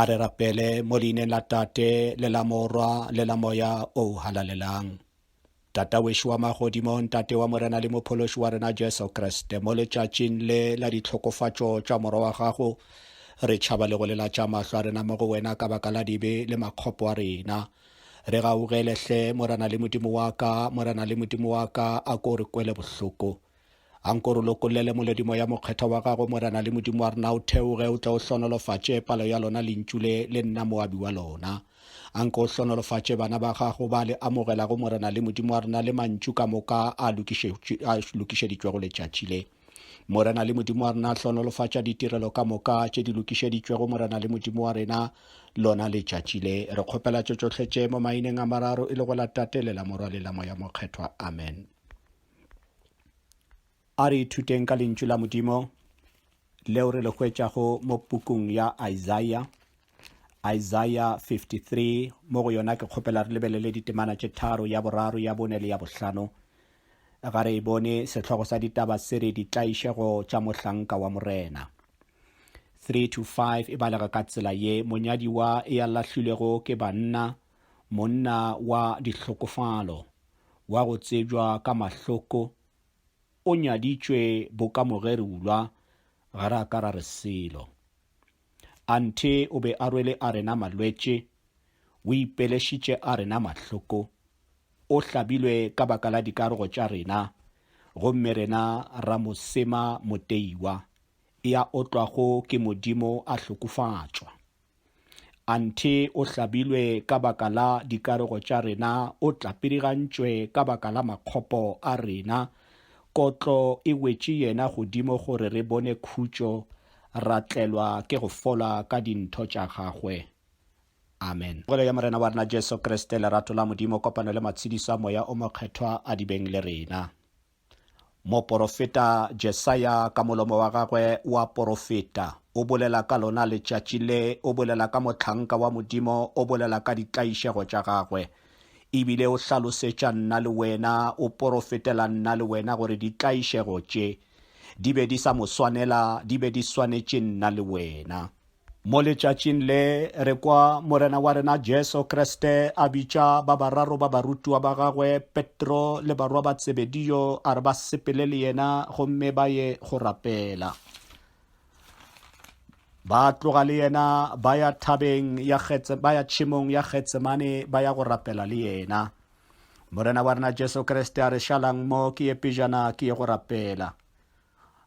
A re rapele mo leineng la Tate le la Morwa le la Moya o o halalelang. Tata wešo wa magodimong, Tate wa Morena le Mophološi wa rena Jesu Kriste, mo letšatšing le la ditlhokofatšo tša Morwa wa gago, re tšhaba le go lelatša mahlo a rena mo go wena ka baka la dibe le makgopo a rena. Re gaugele hle, Morena le Modimo wa ka, Morena le Modimo wa ka, a ko re kwele bohloko. A nko re lokollele moledimo ya mokgethwa wa gago, Morena le Modimo wa rena, o theoge, o tle o hlonolofatše palo ya lona lentšu le, le nna moabi wa lona. A nko o hlonolofatše bana ba gago ba le amogelago, Morena le Modimo wa rena, le mantšu ka moka a lokišeditšwego letšatši le. Morena le Modimo wa rena, hlonolofatša ditirelo ka moka tše di lokišeditšwego, Morena le Modimo wa rena, lona letšatši le. Re kgopela tše tšohle tše mo maineng a mararo e le go la Tate le la Morwa le la Moya Mokgethwa. Amen. A re ithuteng ka lentšu la Modimo leo re le hwetšago mo pukung ya Isaiah, Isaiah 53, mo go yona ke kgopela re lebelele ditemana tše tharo, ya boraro, ya bone le ya bohlano. Ga re e bone, sehlogo sa ditaba se re ditlaišego tša mohlanka wa Morena. 3 to 5 e balega ka tsela ye, Monyadiwa ya lahlilwego ke banna, monna wa dihlokofalo, wa go tsebjwa ka mahloko, o nyaditšwe boka mogerulwa, ga ra ka ra re selo. Anthe o be a rwele a rena malwetše, o ipelešitše a rena mahloko, o hlabilwe ka baka la dikarogo tša rena, gomme rena ra mo sema moteiwa, ya otlwago ke Modimo a hlokofatšwa. Anthe o hlabilwe ka baka la dikarego tša rena, o tlapidigantšwe ka baka la makgopo a rena. Kotlo e wetše yena godimo gore re bone khutšo, ra tlelwa ke go fola ka dintho tša gagwe. Amen. Pogelo ya Morena wa rena Jesu Kriste, lerato la Modimo, kopano le matshediso a Moya o Mokgethwa a di beng le rena. Moporofeta Jesaya ka molomo wa gagwe o a porofeta, o bolela ka lona letšatši le, o bolela ka mohlanka wa Modimo, o bolela ka ditlaišego tša gagwe. E bile o hlalosetša nna le wena, o porofetela nna le wena gore ditlaišego tše di be di sa mo swanela, di be di swanetše nna le wena. Mo letšatšing le, re kwa Morena wa rena Jesu Kriste a bitša ba bararo ba barutiwa ba gagwe, Petro le barwa ba Tsebedio, a re ba sepele le yena gomme ba ye go rapela. Ba tloga le yena ba ya thabeng ya Getse, ba ya tšhemong ya Getsemane ba ya go rapela le yena. Morena wa rena Jesu Kriste a re, Šalang mo, ke ye pejana ke ye go rapela.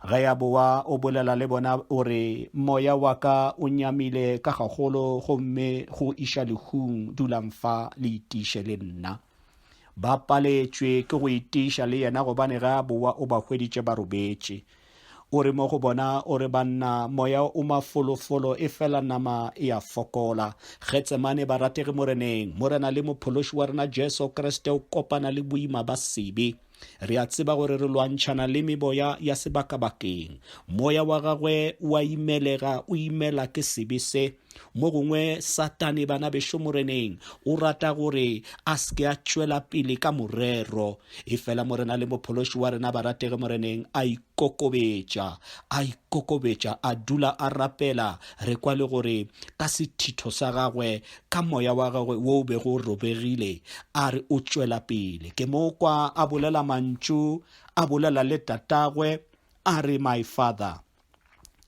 Ge a bowa o bolela le bona o re, Moya wa ka o nyamile ka gagolo gomme go iša lehung, dulang fa le itiiše le nna. Ba paletšwe ke go itiiša le yena gobane ge a bowa o ba hweditše ba robetše. O re mo go bona o re, Banna, moya o mafolofolo efela nama e a fokola. Getsemane, barategi Moreneng, Morena le Mophološi wa rena Jesu Kriste o kopana le boima ba sebe. Re a tseba gore re lwantšhana le meboya ya sebakabakeng. Moya wa gagwe o a imelega, o imela ke sebe se. Mo gongwe Satane, bana bešo Moreneng, o rata gore a se ke a tšwela pele ka morero. Efela Morena le Mophološi wa rena ba ratege Moreneng a ikokobetša, a ikokobetša, a dula a rapela. Re kwa le gore ka sethitho sa gagwe, ka moya wa gagwe wo o bego o robegile, a re o tšwela pele. Ke mo kwa a bolela mantšu, a bolela le tatagwe, a re, My father,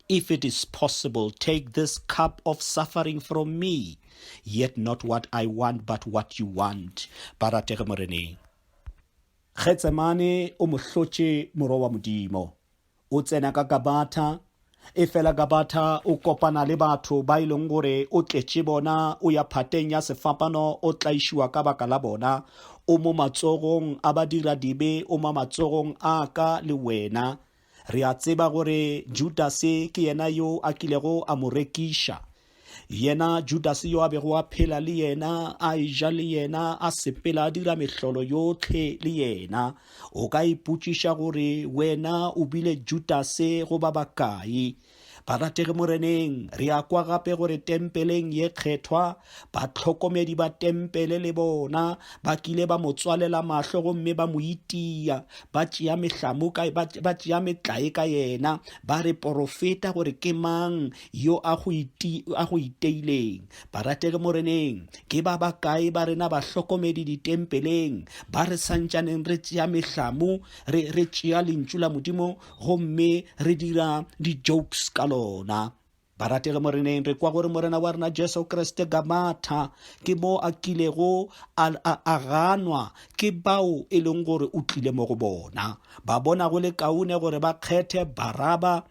if it is possible, take this cup of suffering from me, yet not what I want, but what you want. Ba ratege Moreneng. Getsemane o mo hlotše Morwa wa Modimo. O tsena ka Gabatha, efela Gabatha o kopana le batho ba e leng gore o tletše bona, o ya phateng ya sefapano, o tlaišiwa ka baka la bona. O mo matsogong a badiradibe, o mo matsogong a ka le wena. Re a tseba gore Judase ke yena yo a kilego a mo rekiša. Yena Judase yo a bego a phela le yena, a eja le yena, a sepela, a dira mehlolo yotlhe le yena. O ka ipotšiša gore wena o bile Judase goba bakae. Barategi Moreneng, re a kwa gape gore tempeleng ye kgethwa, batlhokomedi ba tempele le bona ba kile ba mo tswalela mahlo gomme ba mo itia, ba tšea mehlamu ka, ba, ba tšea metlae ka yena, ba re, Porofeta gore ke mang yo a go, iti, a go iteileng. Barategi Moreneng, ke ba bakae ba rena bahlokomedi ditempeleng ba re santšaneng re tšea mehlamu, re, re tšea Lentšu la Modimo, gomme re dira di-jokes ka lona barategi moreneng re kwa gore morena wa rena jesu kriste gamatha ke mo a kilego a, a, a ganwa ke bao e leng gore o tlile mo go bona ba bona go le kaone gore ba kgethe baraba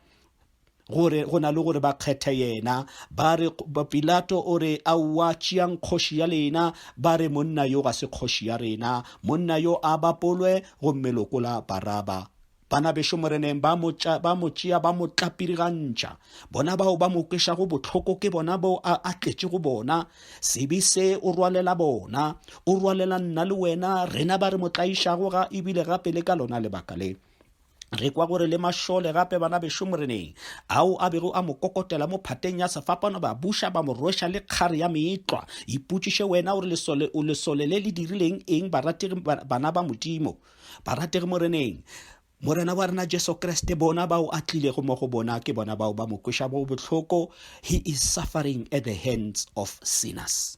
gore go na le gore ba kgethe yena ba re pilato o re a wa tšeang kgoši ya lena ba re monna yo ga se kgoši ya rena monna yo a bapolwe gomme lokola baraba Bana bešo Moreneng ba mo tša ba mo tšea ba mo tlapirigantša. Bona bao ba mo kwešago bohloko ke bona bo a a tletše go bona. Sebe se o rwalela bona, o rwalela nna le wena, rena ba re mo tlaišago ga ebile gape le ka lona lebaka le. Re kwa gore le mašole gape bana bešo Moreneng, ao a bego a mo kokotela mo phateng ya sefapano ba buša ba mo rweša le kgare ya meetlwa. Ipotšiše wena o re lesole o lesole le le dirileng eng barategi bana ba Modimo. Barategi Moreneng, Morena wa rena Jesu Kriste, bona bao a tlilego mo go bona ke bona bao ba mo kweša bo bohloko. He is suffering at the hands of sinners.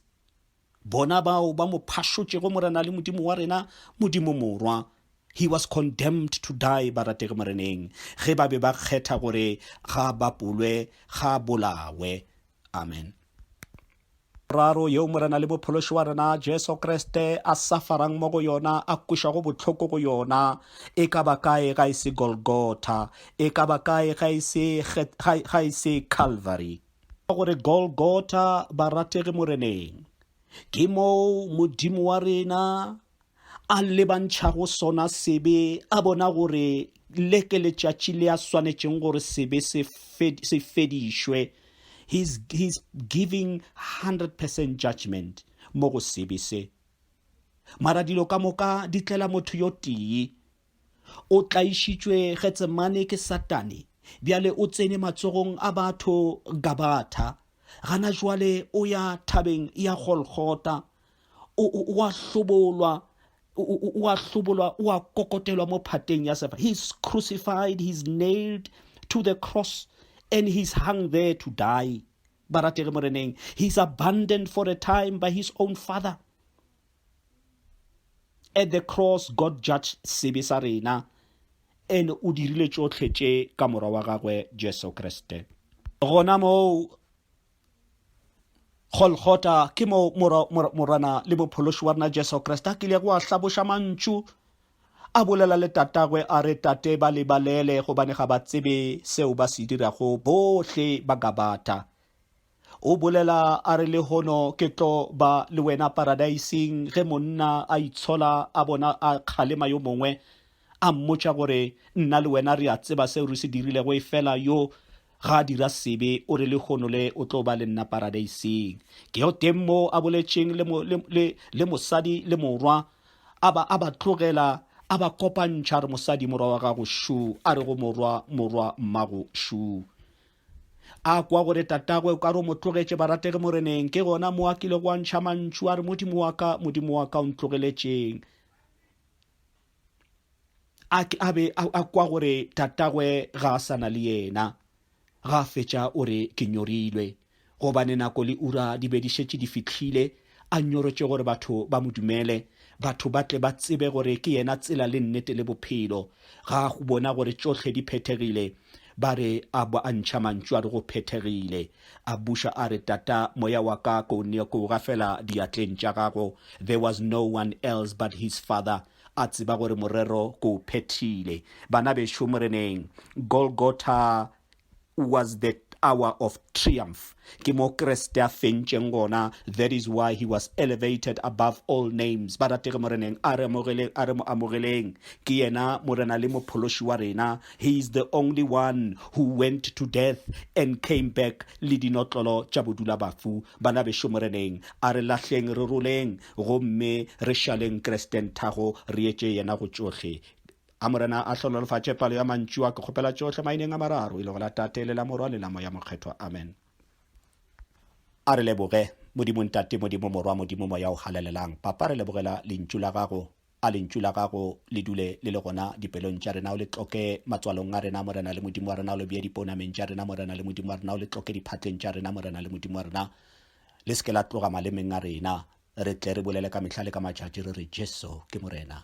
Bona bao ba mo phašotšego Morena le Modimo wa rena, Modimo Morwa. He was condemned to die, barategi Moreneng, ge ba be ba kgetha gore ga bapolwe, ga bolawe. Amen. Raro yeo Morena le Mophološi wa rena Jesu Kriste a safarang mo go yona, a kušago bohloko go yona, e ka ba kae ga e se Golgotha? E ka ba kae ga e se, ga, ga e se Calvary? Ka gore Golgotha, barategi Moreneng, ke moo Modimo wa rena a lebantšhago sona sebe, a bona gore le ke letšatši le a swanetšeng gore sebe se fedišwe. He's, he's giving 100% judgment mo go sebe se. Mara dilo ka moka di tlela motho yo tee. O tlaišitšwe Getsemane ke Satane, bjale o tsene matsogong a batho Gabatha, gana jwale o ya thabeng ya Golgota, o, o, o a hlobolwa o a hlobolwa o a kokotelwa mo phateng ya sefa he's crucified he's nailed to the cross and he's hung there to die barategi moreneng he's abandoned for a time by his own father At the cross God judged sebe sa rena and o dirile tšohle tše ka Morwa wa gagwe Jesu Kriste. Gona moo Golgotha ke mo Morwana le Mophološi wa rena Jesu Kriste a kilego a hlaboša mantšu a bolela le Tatagwe a re, Tate, ba le balele gobane ga ba tsebe seo ba se dirago. Bohle ba Gabatha O bolela a re lehono ke tlo ba le wena paradaising ge monna a itshola a bona a kgalema yo mongwe a mmotša gore nna le wena re a tseba seo re se dirilego efela yo ga a dira sebe o re lehono le o tlo ba le nna paradaising ke yo teng mo a boletšeng le, mo, le, le, le mosadi le morwa a ba a ba tlogela a ba kopantšha re mosadi morwa wa gago šu a re go morwa morwa mmago šu A kwa gore tatagwe o ka re o mo tlogetše barategi Moreneng, ke gona mo a kilego a ntšha mantšu a re, Modimo wa ka, Modimo wa ka, o ntlogeletšeng. A, a be a, a kwa gore tatagwe ga a sa na le yena. Ga a fetša o re, Ke nyorilwe. Gobane nako le ura di be di šetše di fihlile, a nyorotše gore batho ba mo dumele, batho ba tle ba tsebe gore ke yena tsela le nnete le bophelo. Ga a go bona gore tšohle di phethegile? Ba re, A bo a ntšha mantšu a re go phethegile. A buša a re, Tata, moya wa ka ke o ne ke o ga fela diatleng tša gago. There was no one else but his Father. A tseba gore morero ke o phethile. Bana bešo Moreneng, Golgotha was the hour of triumph ke mo kreste a fentšeng gona that is why he was elevated above all names ba ratege moreneng a re amogeleng a re mo amogeleng ke yena morena le mophološi wa rena he is the only one who went to death and came back le dinotlolo tša bodula bafu bana bešo moreneng a re lahleng re roleng gomme re šaleng kresteng thago re etše yena go tšohle A Morena a hlonolofatše palo ya mantšu a, ke kgopela tšohle maineng a mararo, e lego la Tate le la Morwa le la Moya Mokgethwa. Amen. A re leboge, Modimo Ntate, Modimo Morwa, Modimo Moya o Halalelang. Papa, re lebogela Lentšu la Gago. A Lentšu la Gago le dule le le gona dipelong tša rena, o le tloke matswalong a rena, Morena le Modimo wa rena, o le bee dipounameng tša rena, Morena le Modimo wa rena, o le tloke diphatleng tša rena, Morena le Modimo wa rena. Le se ke la tloga malemeng a rena. Re tle re bolele ka mehla le ka matšatši re re, Jesu ke Morena.